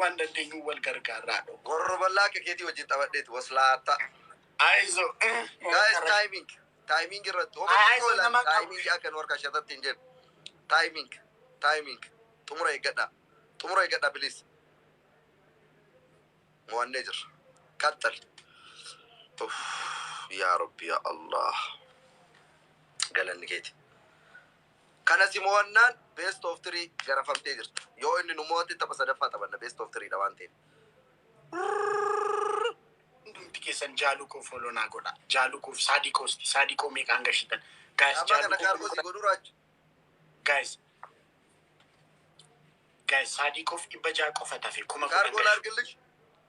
Waan dandeenyuun wal gargaarraa dho. Gorro ballaa akka keetii wajjin taphadheeti waslaata. Ayizo uh. Guys timing timing irratti homa Ayizo xiqqoo nama ilaali qabu. timing akka nu harkaa shatatti hin jennu timing timing xumura eeggadhaa xumura eeggadhaa please mo'annee jirra qaxxal Uff, yaa rabbi yaa allah galanni keeti Kana si mo'annaan best of three garafamtee jirta. Yoo inni nu mo'ate tapha sadaffaa taphanna best of three dha waan ta'eef. Hundumti keessan jaalu koo follow naa godha jaalu koof saadi koo sti saadi koo meeqaan gashitan guys Ammaa jaalu kana koo kaargoo si godhuu raajju. guys guys saadi koof dhibba ja'a qofa tafe kuma kudhan Kaargoon gashu. argillish.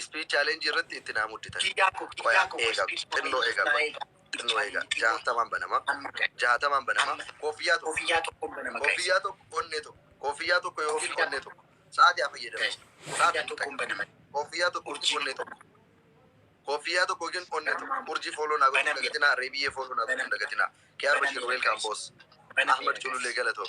Speech challenge irratti itti naa mudditan. Qoya eega xinnoo eega qoya xinnoo eega jaahatamaan banama jaahatamaan banama koofiyyaa tokko koofiyyaa tokko onnee tokko koofiyyaa tokko yookiin onnee tokko sa'aati haa fayyadamu sa'aati hin xaqa koofiyyaa tokko yookiin onnee tokko koofiyyaa tokko yookiin onnee tokko urjii fooloo naa gochuu dagatinaa reebiyyee fooloo naa gochuu dagatinaa kiyaar bashiir weelkaam boos ahmed cululee galatoo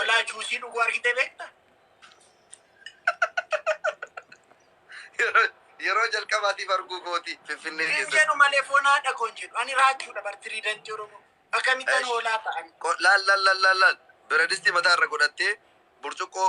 Olaa juusii dhuguu argitee beekta? Yeroo jalqabaatiif arguu kooti Finfinnee Hin keessatti. jedhu malee foon haadha koon jedhu. Ani raachuudha bar tiriidantii Oromoo. Akkamittan Eish. hoolaa ta'an. Ko- Laal laal laal laal laal. Biradistii mataa irra godhattee burcuqqoo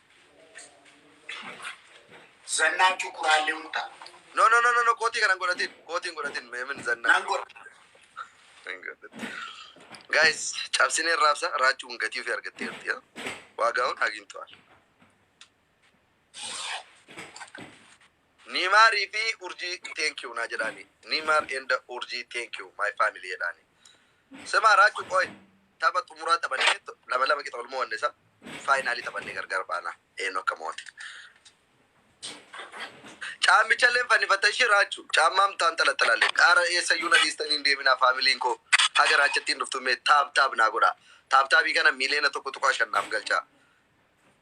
Zannaachuu kuraallee mutaa. No no no no no kootii kana hin godhatin. Kootii hin godhatin mee min zannaa. Nan godha. Hin godhatin. Guys cabsinee raabsa raachuun gatii ofii argattee jirti. yaa. Waagaawwan hagintu'al. Niimaar fi urjii thank you naa jedhaani Niimaar and urjii thank you my family jedhaani Simaa Raachuu qooy tapha xumuraa taphannee to- lama lama qixa wal mo'anne sa faayinaalii taphannee gargar baana eenyu akka mo'ate Caammicha illee fannifatta ishii Raachuu caammaa mtaan xalaxalaalle qaara eessayyuu na dhiistanii hin deeminaa faamiliin koo haga raachattiin dhuftu mee taab taab naa godhaa taab taabii kana miiliyoona tokko tuqaa shan naaf galchaa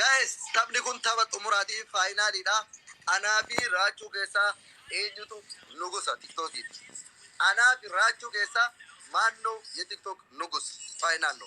Guys taphni kun tapha xumuraati faayinaalii dha anaa fi raachuu keessaa eenyutu nugusa tiktok itti anaa fi raachuu keessaa maan no ye tiktok nugus faayinaal no.